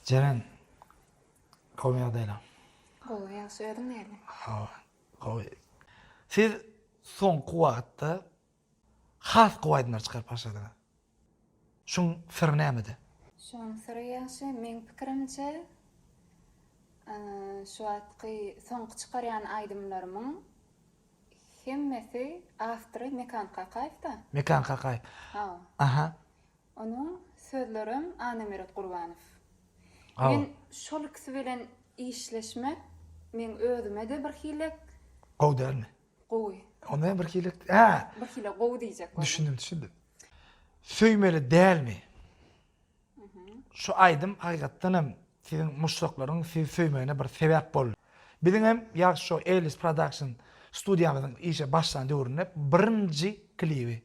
Jeren. Gowy ýagdaýlaň. Gowy ýagşy özüň näle. Hawa gowy. Siz soňky wagtda has gowy aýdymlar çykaryp başladyňyz. Şuň syry nämede? Şuň syry ýagşy meň pikirimçe şu wagtky soňky çykarýan aýdymlarymyň hemmesi awtory Mekan Kakaýewda. Mekan Kakaýew. Hawa. Aha. Onuň sözlerem Annameret Gurbanow. Men şol ikisi bilen işleşmek meň özüme-de bir hilek. Gowy dälmi? Gowy. Onda hem bir hilek. Hä. Bir hilek gowy diýjek boldum. Düşündim, düşündim. Söýmeli dälmi? Şu aýdym hakykatdan hem siziň muşdaklaryň sizi söýmegine bir sebäp boldy. Biziň hem Ýagşy Show Ellis Production studiýamyzyň işe başlan döwründe birinji klibi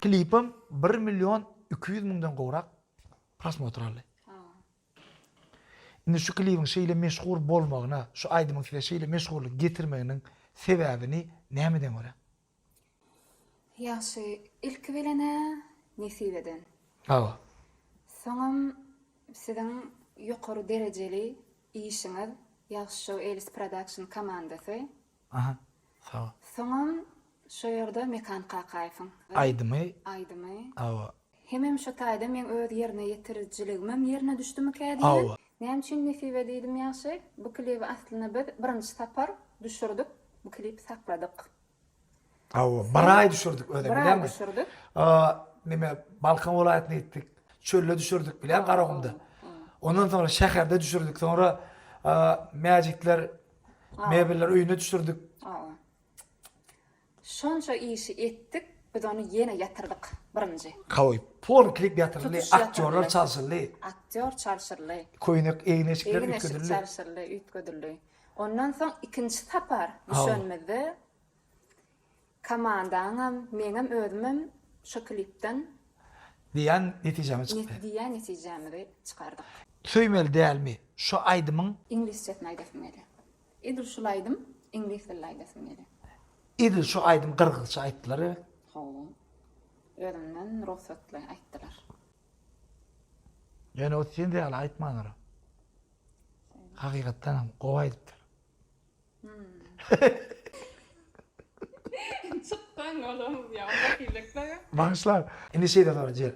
Klipim bir million iki ýüz müňden gowrak prosmotr aldy. Indi şu klibiň şeýle meşhur bolmagyna, şu aýdymyň size şeýle meşhurlyk getirmeginiň sebäbini nämeden göräň? Ýagşy, ilki bilen-ä nesibeden. Hawa. Soňam siziň ýokary derejeli işiňiz Ýagşy Show Elis Production komandasy. Aha. Soňam şo ýerde Mekan Kakaýewiň. Aýdymy. Aýdymy. Hawa. Hemem şo taýda meň öz ýerine ýetirijiligimem ýerine düşdümikä diýýän. Näme üçin Nesibe diýdim ýagşy? Bu klibi aslynda biz birinji sapar düşürdik. Bu klipi sakladyk. Hawa, bir aý düşürdik özem bileňmi? Bir aý düşürdik. Neme, Balkan welaýatyna gitdik. Çölde düşürdik bileňmi, Garagumda. Ondan soňra şäherde düşürdik. Soňra Mäjitler mebeller öýüne düşürdik. Hawa. Şonça işi etdik biz ony ýene ýatyrdyk birinji. Kaoý. Fon klip ýatyryldy, aktýorlar çalşyldy. Aktýor çalşyldy. Köýnek egin-eşikler üýtgedildi. Egin-eşik çalşyldy, üýtgedildi. Ondan soň ikinji sapar düşenimizde komandaňam, meňem özümem şo klipden. Diýen netijämiz çykdy. Diýen netijämizi çykardyk. Söýmeli dälmi şo aýdymyň. Iňlisçesini aýdasym gelýär. Edil şul aýdym iňlis dilde aýdasym gelýär. Edil şu aýdym gyrgyzça aýtdylar we. Hawa. Özümden rugsatly aýtdylar. Ýöne ot sen ýaly aýtmandyr. Hakykatdanam gowy aýdypdyr. Çykdan olamyz ýa onda hilleklere. Bagyşla. Indi şeýle sorajy.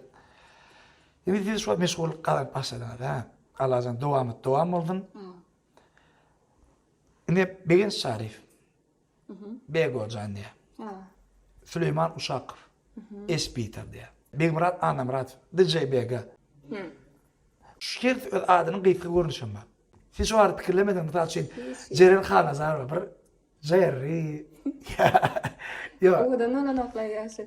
Indi siz şu meşgullyk gazanyp başladyňyz hä. Allajan dowamat dowam bolsun. Ine Begenç Şaryf. Begojan diýä. Süleýman Uşakow. Esbiter diýä. Begmyrat Annamyradow. DJ Bega. Şu hersi öz adynyň gysga görnüşi hem bar. Siz şu barada pikirlemediňizmi? Mysal üçin, Jeren Halnazarowa bir Jerri. Ýok. Owadan bolanok-laý ýaşy.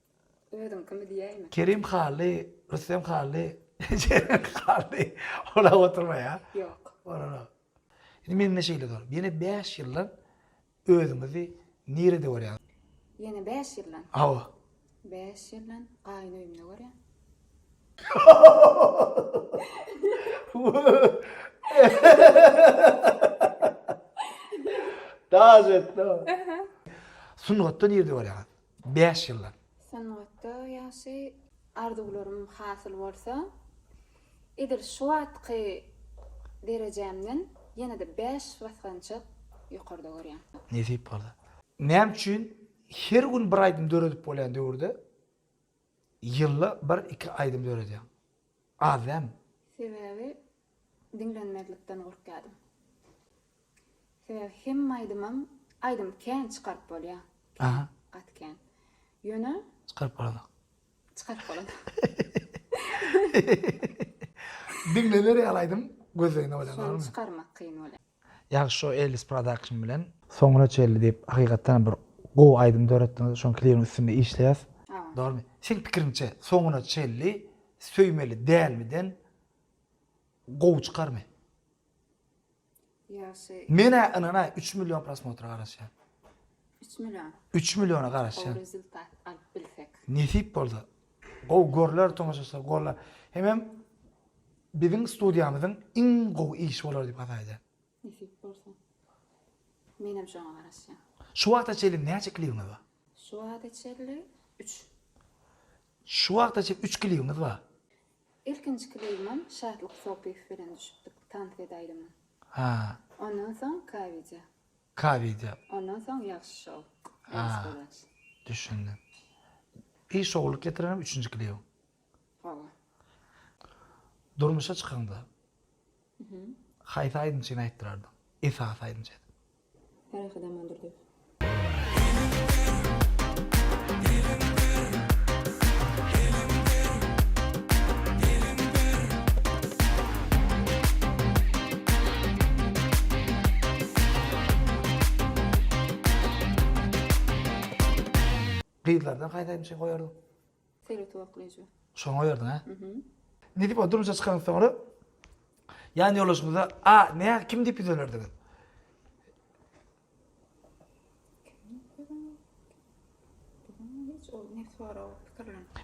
Özüň kimi diýäýme. Kerim Hally, Rüstem Hally, Jeren Hally ola oturma ýa. Ýok. Olara. Indi mende şeýle zor. Ýene bäş ýyldan özüňizi nirede görýäňiz? Ýene bäş ýyldan? Hawa. Bäş ýyldan gaýyn öýümde görýän. Daş etdi o. Sungatda nirede görýäňiz? Bäş ýyllap. Sungatda ýagşy arzuwlarym hasyl bolsa, edil şu wagtky derejämden ýene-de bäş basgançak ýokarda görýän. Nesip bolsa. Näme üçin her gün bir aýdym döredip bolýan döwürde Ýylda bir iki aýdym döredýäň. Az dämi? Sebäbi diňlenmezlikden gorkýadym. Sebäbi hemme aýdymam aýdym kän çykaryp bolýa. Kän gaty kän. Ýöne. Çykaryp bolanok. Çykaryp bolanok. Diňlener ýaly aýdym gözleginde bolýa dogrymy? Şony çykarmak kyn bolýa. Ýagşy şo Ellis production bilen. Soňuna çenli diýip hakykatdanam bir gowy aýdym döretdiňiz şoň klibiň üstünde işleýäs. Dormy? Seň pikiriňçe soňuna çenli söýmeli dälmi den gowy çykarmy? Ýagşy. Menä ynanaý üç million prosmotra garaşýan. Üç million? Üç milliona garaşýan. Gowy rezultat alyp bilsek. Nesip bolsa Gowy görler tomaşaçylar golla hemem biziň studiýamyzyň iň gowy işi bolar diýip has aýdýan. Nesip bolsa. Menem şoňa garaşýan. Şu wagta çenli näçe klibiňiz bar? Şu wagta çenli üç. Şu wagta çenli üç klibiňiz bar? Ilkinji klibimem Şatlyk Sopyýew bilen düşüpdik, tans edäýdim. Ha. Ondan soň K-wideo. Ka wideo. Ondan soň ýagşy şou. Ýagşy golaç. Düşündim. Pi şowluk getirenem üçünji klibiň. Hawa. Durmuşa çykaňda. Mhm. Haýsy aýdymçyny aýtdyrardyň. Esasy aýdymçy edip. Ferhat Amandurdyýew. Gyzlardan haýsayny çyn goýardyň? Seretip oklaýjy. Şony goýardyň a? Nidip o durmuşa çykaňyz soňra ýan ýoldaşyňyza a nä kim diýip ýüz ölerdiňiz?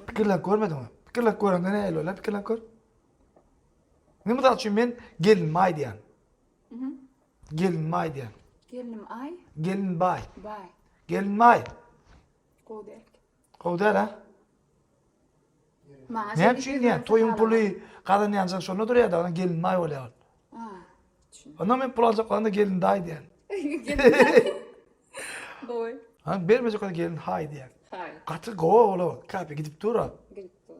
Pikirlenip görmediňmi? Pikirlenip görende nähili bolar? Pikirlenip gör. Indi mysal üçin men gelinime aý diýýän. Gelinime aý diýýän. Gelinim aý. Gelin baý. Baý. Gelinime aý. Gowy däl. Gowy däl ha? Maňa Näme üçin diýýän? Toýuň puly gazanýanjyň şonda durýar-da, onuň gelinime aý bolýar. Onda men pul aljak bolanda gelin daý diýýän. Gowy. Ha, bermejek bolsa gelin haý diýýän. Haý. Gaty gowy ola, kape gidip dur-a. Gidip dur.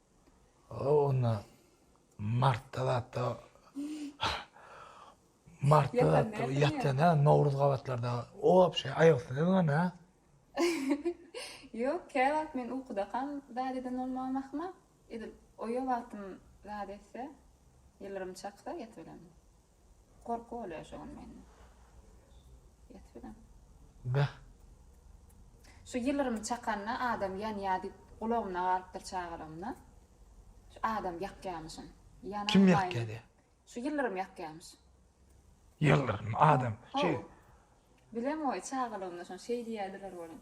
O onda martda zatda martda zatda ýatýan ha nowruz gabatlarda obşe aýaksyz ýöňän ha. Ýok kä wagt men ukudakam zat eden bolmagam ahmal edil oýa wagtym zat etse ýylrym çaksa ýatyberemdi. Gorky bolýar şu gün mende. Ýat bilen. Beh. Şu ýylrymy çakanda adam ýanýa diýip gulagymda galypdyr çagalygymda. Şu adam ýakýamyşyn. Ýananmaýyn. Kim ýakýa diýe. Şu ýylrym ýakýamyş. Ýylrym adam. Ho. Bilemgoý çagalygymda şony şeý diýerdiler welin.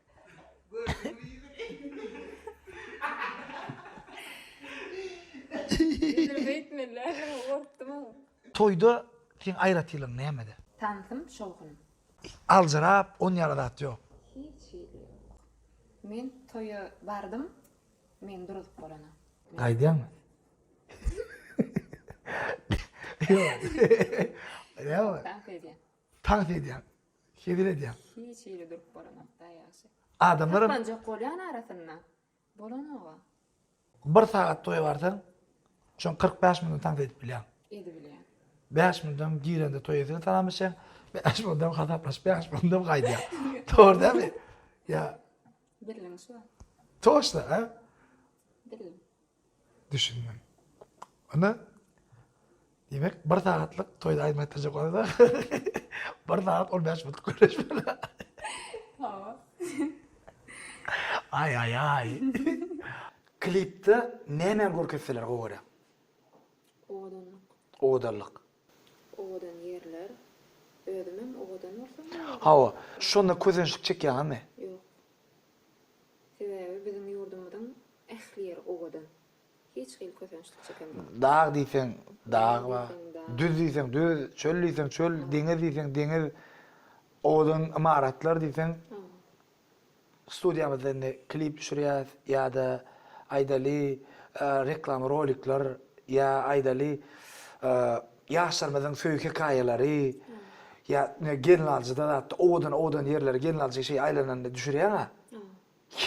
Toýda seň aýratylygyň nämede? Tansym şowhun. Aljyrap on ýara zat ýok. Hiç hili ýok. Men toýa bardym, men duruzyp bolana. Gaýdýaňmy? Ýok. Ýok. Tans edýän. Tans edýän. Sezil edýän. Hiç ýeri durup bolanok daýy ýagşy. Adamlaram. Saklanjak bolýan arasynda. Bolanoga. Bir sagat toýa barsaň şoň kyrk bäş minut tans edip bilýäň. Edibilýär. Bäş minudam girende toý eýesine salamlaşýaň. Bäş minudam hasaplaşyp bäş minudam gaýdýaň. Dogry dälmi? Ýa. Birligiň şo. Toşna a. Birligiň. Düşündim. Onda Diýmek, bir sagatlyk toýda aýdym aýtdyrjak bolanda, bir sagat on bäş minut gürleşmeli. Hawa. Aý-aý-aý. Klipde nämäni görkezseler gowy görýäň? Owadanlyk. Owadanlyk. Owadan ýerler. Özümem owadan bolsam bolýar. Hawa, şonda kösençlik çekýäňizmi? Ýok. Sebäbi biziň ýurdumyzyň ähli ýeri owadan. Hiç hili kösençlik çeken ýok. Dag diýseň dag bar. Düz diýseň düz, çöl diýseň çöl, deňiz diýseň deňiz, owadan ymaratlar diýseň. Studiýamyzda indi klip düşürýäs ýa-da aýdaly reklama rolikler ýa aýdaly ýaşlarymyzyň söýgi hekaýalary ýa gelnaljyda zatda owadan owadan ýerleri gelnaljy şeý aýlananda düşürýäňa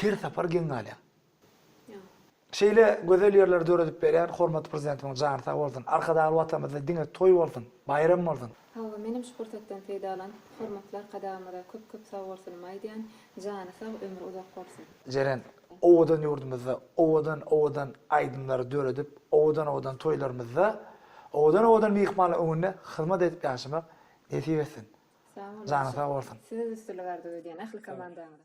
her sapar geň galýaň. Şeýle gözel ýerleri döredip berýän hormatly Prezidentimiň jany sag bolsun. Arkadagly Watanymyzda diňe toý bolsun, baýram bolsun! Hawa, menem şu pursatdan peýdalanyp, hormatly Arkadagymyza köp-köp sagbolsunymy aýdýan, jany sag, ömri uzak bolsun! Jeren, owadan ýurdumyzda owadan-owadan aýdymlary döredip, owadan-owadan toýlarymyzda, owadan-owadan myhmanlar öňünde hyzmat edip ýaşamak nesip etsin! Sag boluň. Janyň sag bolsun. Size üstünlik arzuw edýän ähli komandaňyza.